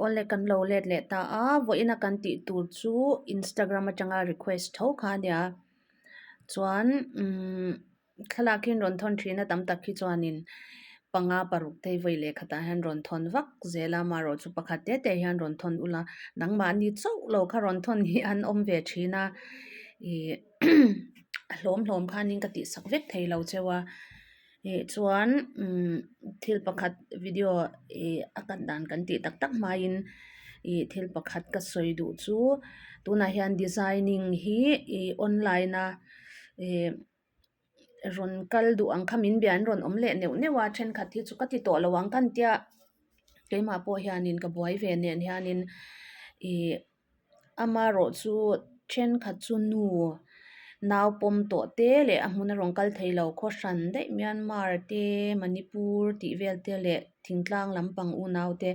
Aw le kan lo let leh ta a vawiin a kan tih tur chu instagram atanga request tho kha a nia chuan umm thlalak hi an rawn thawn thin a tam tak hi chuanin panga paruk te vawi leh khatah hian an rawn thawn vak zel a amaherawhchu chu pakhat te te hian an rawn thawn ula nangmah ani chauh lo kha rawn thawn hi an awm ve thin a ihh a hlawm hlawm khanin ka tih sak vek thei lo cheu a. ih chuan imm thil pakhat video ih a cut dan kan tih tak tak hmaiin ih thil pakhat ka sawi duh chu tunah hian designing hi ih online a ih rawn kal duh ang kha min bia in rawn awm leh neuh neuh a thenkhat hi chu ka ti tawh lo ang ka ni tia keimah pawh hianin ka buai ve nen hianin ih-- Ama erawh chu thenkhat chu nu nau pawm tawh te leh a hmun a rawn kal thei lo khawh hran daih Myanmar te Manipur tih vel te leh thingtlang lampang unau te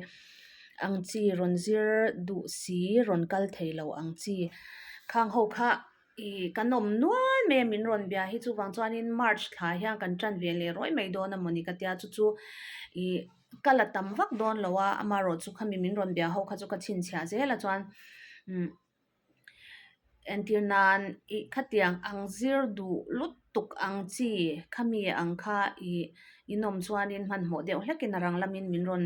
ang chi rawn zir duh si rawn kal thei lo ang chi khang ho kha. I kan awm nual mai a min rawn bia hi chuvang chuanin march thlai hian kan tan ve leh ruai mai dawn a mawni ka tia chu chu i ka la tam vak dawn lo a amarawh chu khami min rawn bia ho kha chu ka chhinchhiah zel a chuan entir nan i khatiang ang zir duh lut-- Tuk ang chi, khami ang kha i inawm chuanin hmanhmawh deuh hlekin a rang lamin min rawn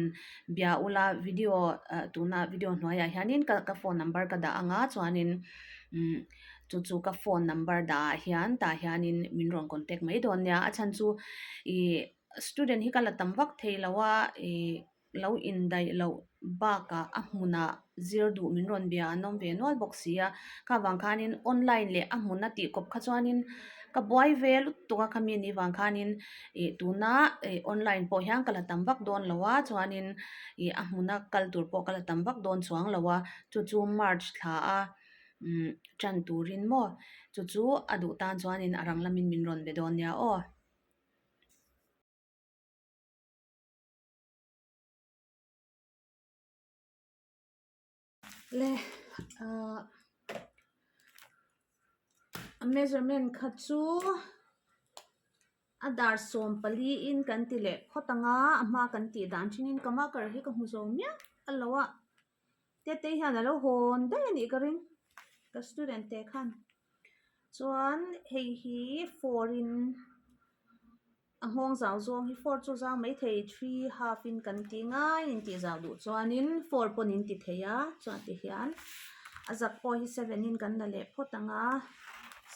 bia ula, video tuna video hnuaiah hianin ka phone number ka dah anga chuanin chu chu ka phone number dah ah hian tah hianin min rawn contact mai dawn nia, a chhan chu i student hi ka la tam vak thei lo a i. lo indaih loh bakah a hmunah zir duh min rawn bia an awm ve nual bawk si a kha vang khanin online leh a hmun a tih kawp kha chuanin ka buai ve lut tuk a khami ni vang khanin ih tuna ih online pawh hian ka la tam vak dawn lo a chuanin ih a hmuna kal tur pawh ka la tam vak dawn chuang lo a chu chu march thla a umm tan turin maw chu chu a duh tan chuanin a rang lamin min rawn be dawn nia aw. le ah a measurement kha chu a dar sawm pali in kan ti leh khawt anga a hma kan tih dan thenin kama kar hi ka hmu zawh miah a lo a. Tete hian a lo hawn daih a nih ka ring, ka student te khan. Chuan hei hi four in a nghawng zau zawng hi, four chu zau mai thei three half in kan ti ngai in tih zah duh chuanin four pawn in ti thei a, chuan ti hian a zak pawh hi seven in kan la leh phawt ang a,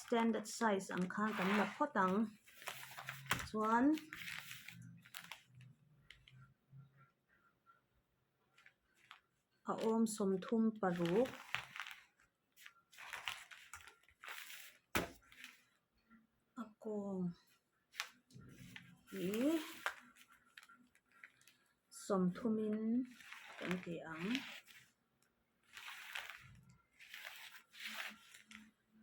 standard size ang khan kan la phawt ang. Chuan. a awm sawmthum paruk a kawng hi sawmthumin kan ti ang.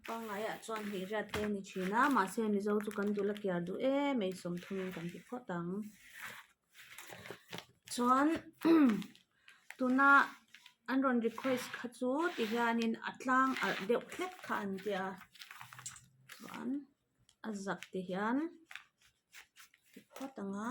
Pangngai ah chuan hmeichhia te a ni thin a mahse mizo chu kan dul a kiar duh e mai sawm thung in kan ti phawt ang chuan tuna an rawn request kha chu ti hian in a tlang alh deuh hlek kha an ti a chuan a zak ti hian ti phawt ang a.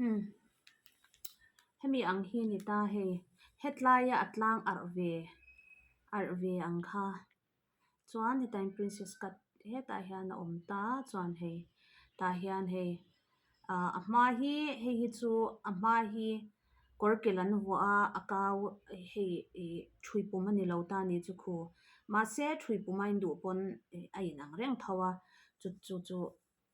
Umm. Hemi ang hi a ni ta hei, hetlaia a tlang arh ve, arh ve ang kha. Chuan hetai'n princess cut hetah hian a awm ta a, chuan hei tah hian hei aah a hma hi hei hi chu a hma hi kawr kel an vuah a, a kau hei ih thui pum a ni lo ta ni chu khu. Mahse thui pum a induh pawn a inang reng tho a, chu chu chu.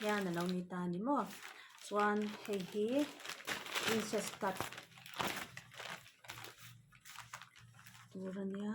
hian alo ni ta ni maw chuan hei hi princess cut tur a nia.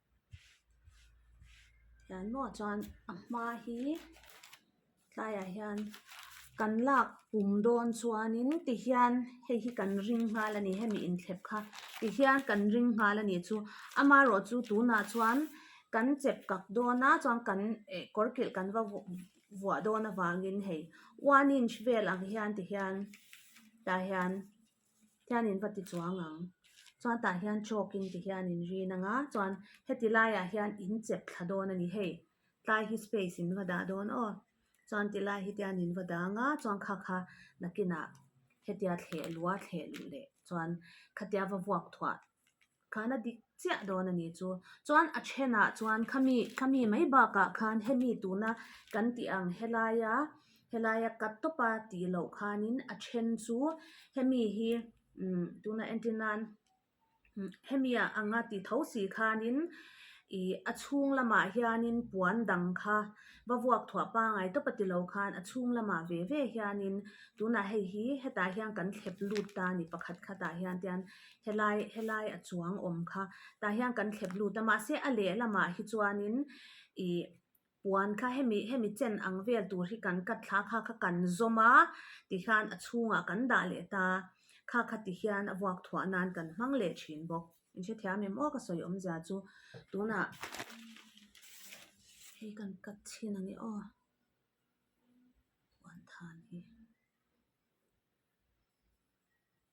Tah hmuh chuan a hma hi tlaiah hian kan lak pum dawn chuanin ti hian hei hi kan ring nghal a ni hemi inthlep kha ti hian kan ring nghal a nih chu ama erawh chu tunah chuan kan chep kak dawna chuan kan eh kawr kilh kan va vuah vuah dawn avangin hei one inch velah hian ti hian tah hian-- hian in va ti chuang ang chuan tah hian chalk in ti hian in rin ang a chuan heti lai ah hian in chep thla dawn a ni hei tlai hi space in va dah dawn aw chuan ti lai hi te an in va dang a chuan kha kha nakin ah hetia thleh lua thleh leh chuan khatia va vuak thuah-- Khan a dik chiah dawn a nih chu. Chuan a ṭhenah chuan khami, khami mai bakah khan hemi tuna kan tih ang helaia, helaia cut tawpa tih loh khanin a ṭhen chu hemi hi umm tuna entir nan hemia ang a tih tho si khanin ih a chhung lamah hianin puan dang kha va vuak thuah pangai tawpa ti lo khan a chhung lamah ve ve hianin tunah hei hi hetah hian kan thlep lut ta a ni pakhat khatah hian tian-- helai helai a chuang awm kha tah hian kan thlep lut a mahse a leh lamah hi chuanin ih puan kha hemi hemi chen ang vel tur hi kan cut thla kha kha kan zawm a ti khan a chhungah kan dah leh ta kha kha ti hian a vuak thuah nan kan hmang leh thin bawk in hrethiam em awk a sawi awmzia chu tunah hei kan cut chin a ni aw puanthan hi.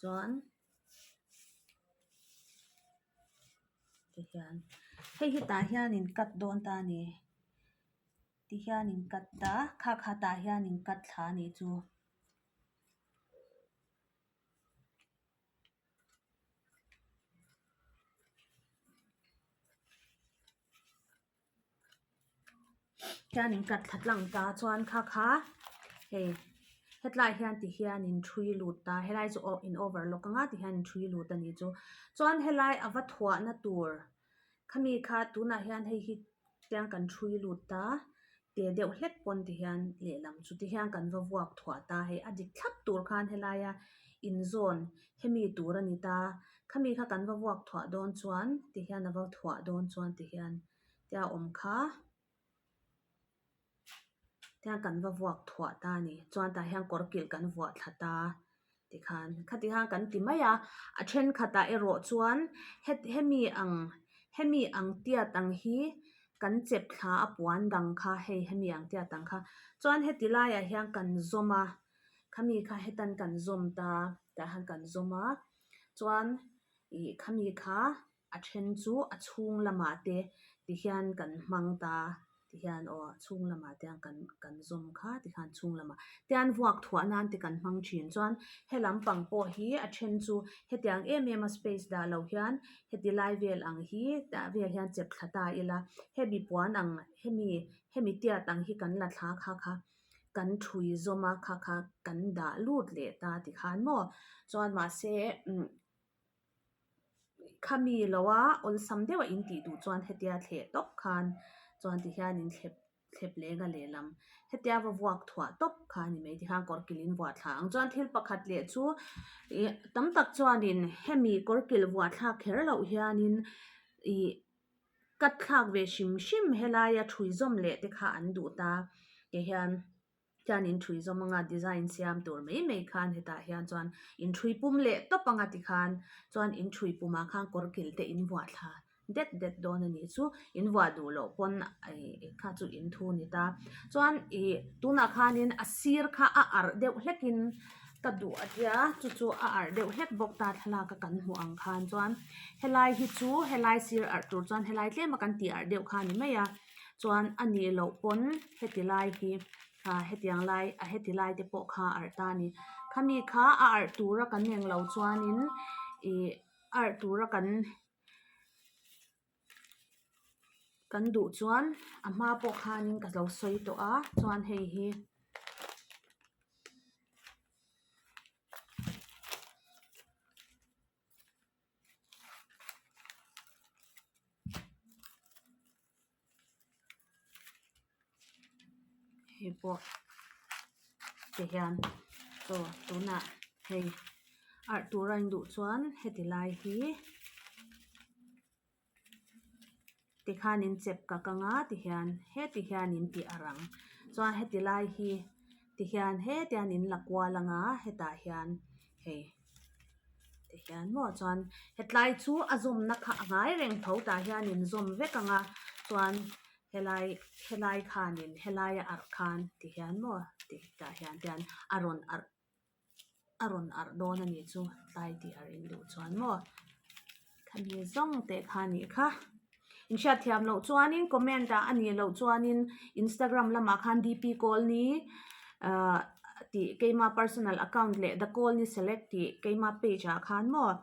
chuan ti hian hei hetah hian in cut dawn ta a ni ti hian in cut ta kha kha tah hian in cut thla a nih chu hian in cut thla lang ta chuan kha kha hei hetlai hian ti hian in thui lut ta helai chu aw in over lawk anga ti hian in thui lut a nih chu chuan helai a va thuah na tur khami kha tunah hian hei hi tiang kan thui lut ta teh deuh hlek pawn ti hian lehlam chu ti hian kan va vuak thuah ta hei a dik thlap tur khan helai a inzawn-- hemi tur a ni ta khami kha kan va vuak thuah dawn chuan ti hian a va thuah dawn chuan ti hian te a awm kha tiang kan va vuak thuah ta a ni chuan tah hian kawr kilh kan vuah thla ta ti khan khati han kan ti mai a a thenkhatah erawh chuan he hemi ang hemi ang tiat ang hi kan chep thla a puan dang kha hei hemi ang tiat ang kha chuan heti laiah hian kan zawm a. Khami kha hetan kan zawm ta, tah hian kan zawm a, chuan ih khami kha a then chu a chhung lamah te ti hian kan hmang ta, ti hian aw a chhung lamah te ang kan kan zawm kha ti kha chhung lamah tian vuak thuah nan te kan hmang thin chuan he lam pang pawh hi a then chu hetiang em em a space dah loh hian heti lai vel ang hi tah vel hian chep thla ta ila hemi puan ang hemi hemi tiat ang hi kan la thla kha kha. kan thui zawm a kha kha kan dah lut leh ta ti khan maw chuan mahse umm khami loa awlsam deuha in tih duh chuan hetia thleh tawp khan chuan ti hian in thlep thlep lenga lehlam hetia va vuak thuah tawp kha a ni mai ti khan kawr kil in vuah thla ang chuan thil pakhat leh chu ih tam tak chuanin hemi kawr kil vuah thlak kher loh hianin ih-- ka thlak ve hrim hrim helaia thui zawm leh te kha an duh ta kei hian hian in thui zawm anga design siam tur mai mai khan hetah hian chuan in thui pum leh tawp anga ti khan chuan in thui pum ah khan kawr kil te in vuah thla det det dawn a nih chu in vuah duh loh pawn ih kha chu in thu a ni ta chuan ih tunah khan in a sir kha a arh deuh hlek in. Ka duh a tia, chu chu a arh deuh hlek bawk ta thlalak a kan hmuh ang khan chuan helai hi chu helai sir arh tur chuan helai tlem a kan tih arh deuh kha a ni mai a chuan a nih loh pawn heti lai hi ah hetiang lai a heti lai te pawh kha a arh ta a ni khami kha a arh tur a kan eng lo chuan in ih arh tur a kan-- kan duh chuan a hma pawh khan ka zo sawi tawh a chuan hei hi hei pawh ti hian chaw tunah hei arh tura in duh chuan heti lai hi ti khan in chep ka ka nga ti hian heti hian in tih a rang chuan heti lai hi ti hian heti hian in la kual anga hetah hian hei ti hian maw chuan hetlai chu a zawmna kha a ngai reng tho tah hian in zawm vek ang a chuan-- Helai, helai khanin helaia arh khan ti hian maw tih tah hian te an a rawn arh a rawn arh dawn a nih chu tlai tih a rin duh chuan maw khami zawng te kha ni kha in hriat thiam loh chuanin comment ah a nih loh chuanin Instagram lamah khan D P kawl ni ahh tih keima personal account leh the kawl ni select tih keima page ah khan maw--